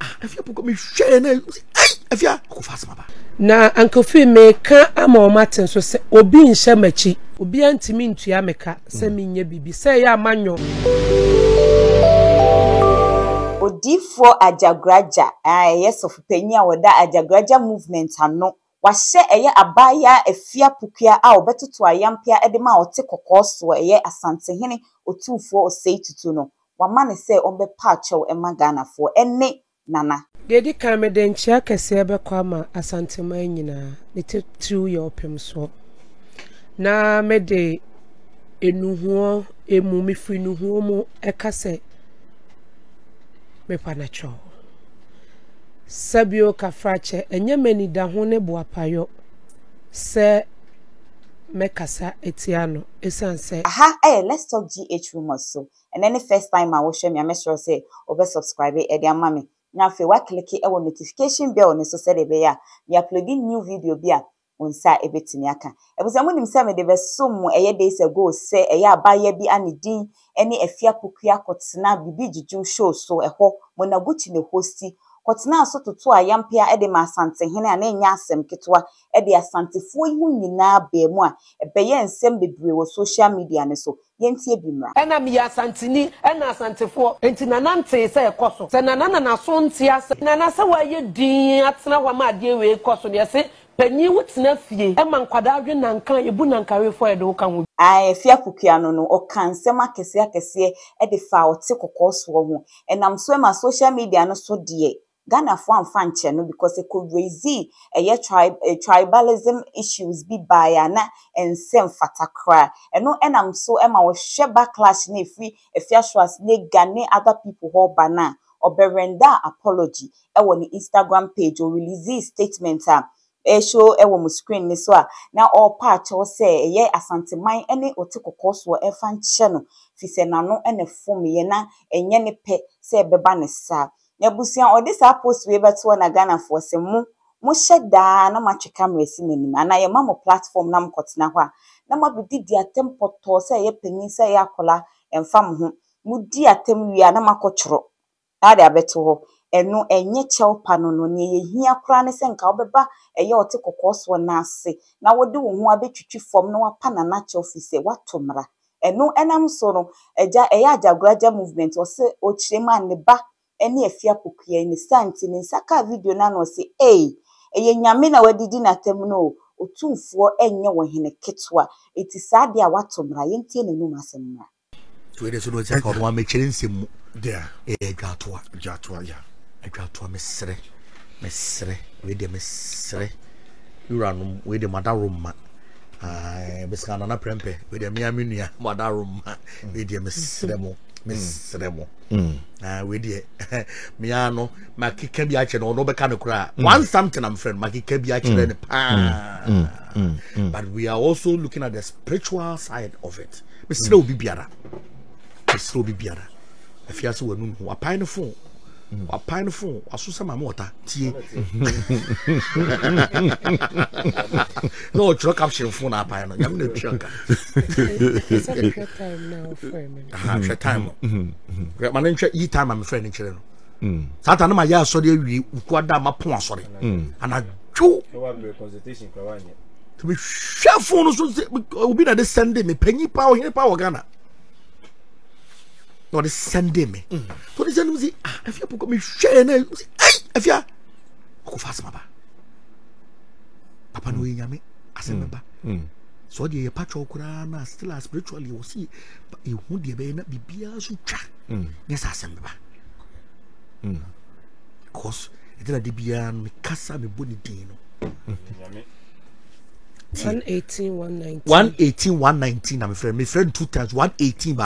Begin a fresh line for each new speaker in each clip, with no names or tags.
Ah, afia pokɔ mi hwɛ yɛ na ɛyi afia kò fa asoma ba. Na ankofi
mi ka ama wɔn ate nso sɛ obi nhyɛ m'akyi. Obi antumi ntua mi ka sɛ mm. mi nyɛ biribi sɛ ɛyɛ ama nyɔ.
Odiifoɔ Agyagoragya a ɛyɛ sɔfopanyin a wɔda Agyagoragya movement ano Wahyɛ ɛyɛ abaayaa Afia Pukua a ɔbɛtoto ayampea de ma ɔte kɔkɔɔ soɔ ɛyɛ Asantehene Otumfoɔ Osei Tutu no, wama no sɛ ɔmmɛpa akyɛw mma Ghanafoɔ ɛne Nana. Deɛ ɛdi kan, mede
nkyea kɛseɛ bɛkɔ ama Asanteman nyinaa, ne titiriw yɛ Ɔpemsoɔ, na mede Nnuhoɔ mu, mefiri Nnuhoɔ mu ɛka sɛ mepa no akyɛw. Sabio Kafrakyɛ, Ɛnyɛ m'anidaho ne boapayɔ sɛ mɛkasa atia no ɛsiane sɛ. Aha yɛ Let's
Talk GH Rumours so. Ɛnɛ ne first time a wohwɛ me a mɛsrɛ wo sɛ wo bɛ subscribe de ama me na afei woaclicke wɔ notification bell no so sɛdeɛ ɛbɛyɛ a me uploadi new video bi a Mo nsa a ebetumi aka. Efisɛ munim sɛ mede bɛsom mo ɛyɛ days ago sɛ ɛyɛ abaayewa bi a ne din ne Afia Pokuya kɔtena Bibi Juju show so ɛhɔ Monaguchi na hosti kɔtenaa so totoo ayampea de maa Asantehene a na ɛnyɛ asɛm ketewa de Asantefoɔ yi ho nyinaa baa mu a ɛbɛyɛɛ nsɛm bebree wɔ social media no so Yɛntie bi mmra. Ɛna meyɛ Asanteni,
ɛna Asantefoɔ. Enti Nana ntee sɛ ɛkɔ so. Sɛ Nana na n'aso nte asɛ. Nana sɛ w'ayɛ din atena hɔ ama adeɛ wei kɔ so no yɛse panyin wo tena fie ma nkwadaa we nanka yɛbu nanka wefoɔ a yɛde wo ka ho bi. Ae Afie Apokuaa
no no ɔkaa nsɛm akɛseɛ akɛseɛ de faa ɔte kɔkɔɔ soɔ ho. Ɛnam so ɛma social media no so deɛ Ghana foɔ amfa ankyɛ no because ɛkɔ raisee ɛyɛ tribe tribalism issues bi baeɛ a na ɛnsɛ mfata koraa ɛno ɛna nso ɛma wɔhwɛ backlash no a ɛfiri Afiasuas ne ga ne other people hɔ ba no a ɔbɛrendaa apology ɛwɔ ne Instagram page ɔ releasee statement a ɛreshow ɛwɔ mo screen no so a na ɔrepa akyɛw sɛ ɛyɛ Asanteman ɛne ɔte kɔkɔɔ soɔ ɛmfa nkyɛ no fisɛ n'ano ɛna ɛfomeɛ na ɛnyɛ ne pɛ sɛ ɛbɛba ne saa N'abusua ɔde saa post wei bɛto hɔ na Ghanafoɔ se mo mo hyɛ daa na mo atwe camera si m'anim anaa yɛma mo platform na mo kɔ tena hɔ a na mo abedi di atɛm pɔtɔɔ sɛ ɛyɛ panin sɛ ɛyɛ akwadaa ɛnfa mo ho mo di atɛm wie a na mo akɔ tworo na ade abɛto hɔ ɛno ɛnyɛ kyɛw pa no no neɛ yɛhia koraa ne sɛ nka wobɛba ɛyɛ ɔte kɔkɔɔ soɔ no ase na wode wo ho abɛtwitwi fam na wapa nana kyɛw firi sɛ woato mmara Ɛno ɛnam so no agya ɛyɛ Agyagoragya movement ɔse ɔkyerɛ mu a ne ba ɛne afie apokuyayi ne saa nti ne nsa kaa video no ano ɔse ei ɛyɛ Nyame na wadidi natam no o Otumfoɔ ɛnyɛ ɔhene ketewa nti saa adeɛ a wato mmra yɛntie n'anum asɛm mmra. Wei deɛ sɛ ɔno
ɔte ɔno amekyerɛ nsɛm mu ɛyɛ dwatoa dwatoa ya dwatoa mesrɛ mesrɛ wei deɛ mesrɛ wuranom wei deɛ mo adaworoma. bɛsika nana prɛmpɛ wedeɛ mea me nua mada roma wedeɛ mesrɛ mo mesrɛ mo wedeɛ mea no makeka bi akyerɛ no ɔno bɛka no koraa mm. one something am friend makeka bi akyerɛ no mm. paa mm. but we are also looking at the spiritual side of it mesrɛ obi biara mesrɛ obi biara afiase w'anum ho apae no fo wapae no fon waso sɛ maame ɔta tie na ɔtwerɛ caption fon na apae no nyame na tua
ka hwɛ
time no ma no nhwɛ yi time a mefrɛ no kyerɛ no mm. saa ta no ma yɛ asɔre awie woku ada ma pon asɔre mm. anadwo
mehwɛ
fon no so obi na de sɛnde me panyi paa ɔhene paa wɔ ghana na ɔde sɛnde me na ɔde sɛnde me si ah afia pɔkɔ mi hwɛ yɛ na ɛsi ɛyi afia ɔkɔ fa asɛm aba papa na ɔyɛ nyame asɛm bɛba sɛ ɔde yɛ patwɔ koraa na still a spiritually wɔ si ehu deɛ bɛyɛ na biribiara so twa nyɛ sɛ asɛm bɛba because ɛdina de biara no mekasa mebɔ ne din no. one eighteen one nineteen.
one eighteen one nineteen na mefrɛ mefrɛ no two
times one eighteen ba.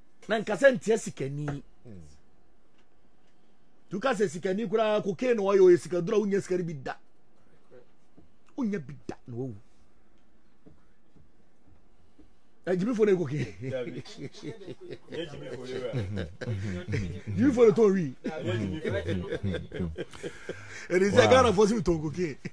na nka sɛ nteɛ sikani tuka sɛ sikani koraa kokain na ɔyɛ ɔyɛ sikaduro a wonya sika no bi da wonya bi da na wawu agyimifo na ekoke gyimifo na tɔn wi ɛdi sɛ ghana fo si mi tɔn koke.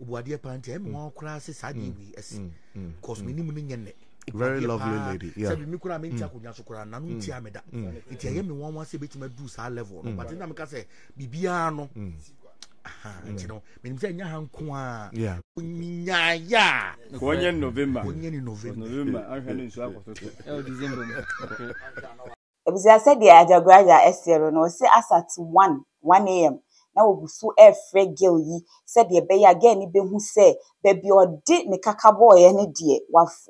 obuadeɛ paa nti ɛmi wɔn koraa sɛ saa deɛ wei ɛsi cause mi nim ne nyɛ nɛ very lovely
lady yeah sɛbi mi koraa mi nti akonnwa
so koraa nanu nti a mi da nti ɛyɛ mi wɔn wɔn sɛ ebetumi adu saa level no but ɛna mi ka sɛ biribiara no nti no mi nim sɛ ɛnyɛ ha nko a
nyaaya wɔnyɛ
november wɔnyɛ ni november november ahwɛ ne nsu akɔtɔ so ɛwɔ december
mu. Ebusua sɛdeɛ Ajagraja seɛ no no ɔse as at one, one am na wɔguso ɛɛfrɛ girl yi sɛdeɛ ɛbɛyɛ a girl no bɛhu sɛ baabi a ɔde ne kaka bɔɔeɛ no deɛ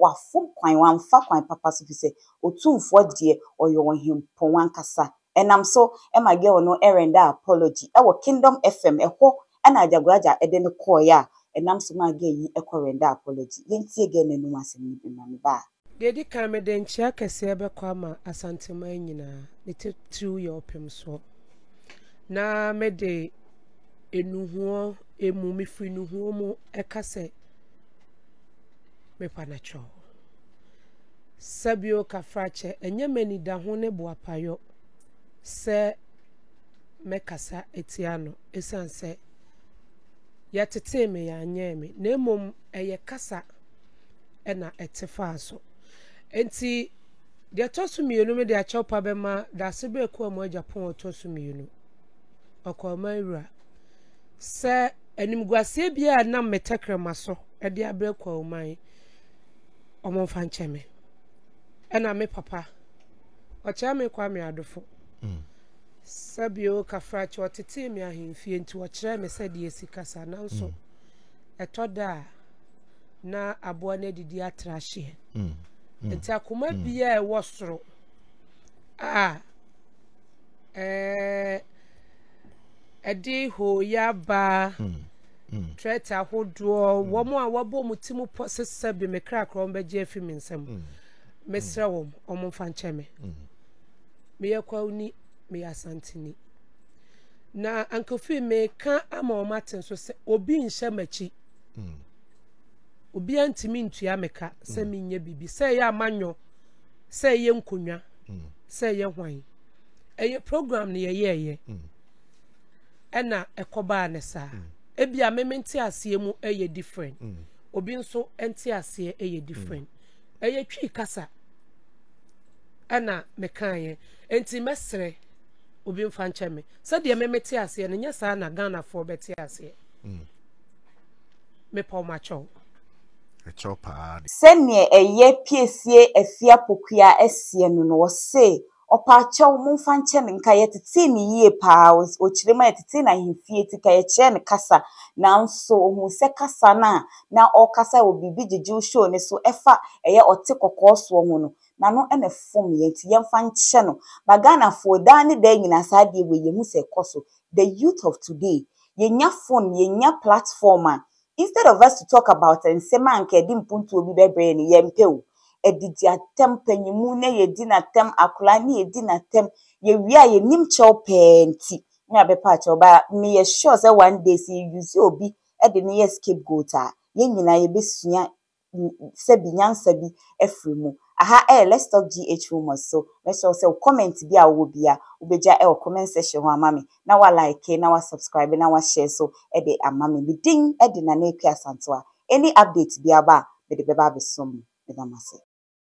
wafom kwan, wamfa kwan papa so fisɛ Otumfoɔ deɛ ɔyɛ Ɔhempɔn ankasa. Ɛnam so ɛma girl no ɛrender apology ɛwɔ Kingdom FM ɛhɔ Ɛna Agyagoraja de no kɔɔɛ a ɛnam so maa Gay yi kɔ render apology. Yɛntie Gay no anum asɛm no bi ma me ba a. Deɛ ɛdi kan, mede
nkyea kɛseɛ bɛkɔ ama Asanteman nyinaa, ne titiriw yɛ Ɔpemsoɔ. Na mede Nnuhoɔ mu, mefiri Nnuhoɔ mu ka sɛ Mepanakyɔ. Sɛbio Kafrakyɛ, ɛnyɛ m'anidaho ne boapayɔ sɛ. mɛkasa atia no esiane sɛ yɛtetee me, yɛanyɛn me, na mmom ɛyɛ kasa na ɛte faa so. Enti, deɛ ɛtɔ so mmienu me de akyɛw pa bɛma dase bɛɛ kurom agya pon ɔtɔ so mmienu. Ɔkɔɔ man wura. Sɛ animguaseɛ bi a nam me tɛkrɛma so de abrɛ kwawu man, wɔn mfa nkyɛ me. Ɛna me papa, ɔkyerɛ me kwa me adofo. Mm. Sɛ bio Kafrachi, ɔtetee me ahemfie nti ɔkyerɛɛ me sɛdeɛ yɛsi kasa nanso ɛtɔ da a na aboa no adidi atra ahyeɛ. Mm. Mm. Nti akoma mm. biara ɛwɔ soro a ɛɛ ɛde hooyɛ abaa trɛt ahodoɔ wɔn a wɔabɔ wɔn ti mu pɔ sesɛ bi me krakra wɔn bɛgye afi me nsam mesrɛ wɔn wɔn mfa nkyɛn me. meyɛ Kwawuni, meyɛ Asanteni. Na Ankofi meka ama wɔn ate nso sɛ obi nhyɛ m'akyi. Hmm. Obiara ntumi ntua me ka sɛ hmm. menyɛ biribi sɛ ɛyɛ amanyɔ sɛ ɛyɛ nkonnwa hmm. sɛ ɛyɛ hwan. Ɛyɛ program no yɛyɛɛyɛ ɛna ɛkɔbaa ne saa. Ebia me mente aseɛ mu ɛyɛ different. Obi nso ɛnte aseɛ ɛyɛ different. Ɛyɛ Twi kasa na mekaeɛ, enti mɛsrɛ obi mfa nkyɛ me. Sɛdeɛ me mete aseɛ no, nyɛ saa na Ghanafoɔ bɛte aseɛ. Mm. Mepɛ ɔmo akyɛw. Ɛkyɛw
paa de. Sɛdeɛ
ɛyɛ piesie afia pokuaa asia no no, ɔse Ɔpaakyɛw, momfa nkyɛ no nka, yɛtetee no yie paa. Ɔkyerɛ mu a, yɛtetee no ahemfie ti ka, yɛkyerɛɛ no kasa. Nanso ɔhuu sɛ kasa no a na ɔrekasa wɔ Biribi Gyegyew show no so ɛfa ɛyɛ ɔte kɔkɔɔ soɔ ho no, n'ano na ɛfomeeɛ. Nti yɛmfa nkyɛ no. But Ghanafoɔ, daa ne daa nyinaa saa adeɛ wei yɛhu sɛ ɛkɔ so. The youth of today, yɛnya phone, yɛnya platform a, Instead of us to talk about nsɛm a nka ɛde mpuntuo bi bɛbrɛ yɛn no, yɛmpɛ o. Ɛde di atɛm panyinmu na yɛdi no atɛm, akwadaa na yɛdi no atɛm. Yɛwie a yɛnim kyɛw pɛɛ nti na yɛabɛpa akyɛw. But meyɛ sure sɛ one day sɛ yɛ use obi de no yɛ scapegoat a, yɛn nyinaa yɛbɛsua sɛbi nyansa bi afiri mu. Aha ɛyɛ Let's Talk GH Rumours so, mɛsrɛ wo sɛ wo comment bi a wowɔ biara wobɛgya ɛwɔ comment section hɔ ama me, na wa like, na wa subscribe, na wa share nso de ama me. Me din de Nana Akua Asantewaa. Any update bi aba a, mede bɛba abɛsɔ mu. Meda mo ase.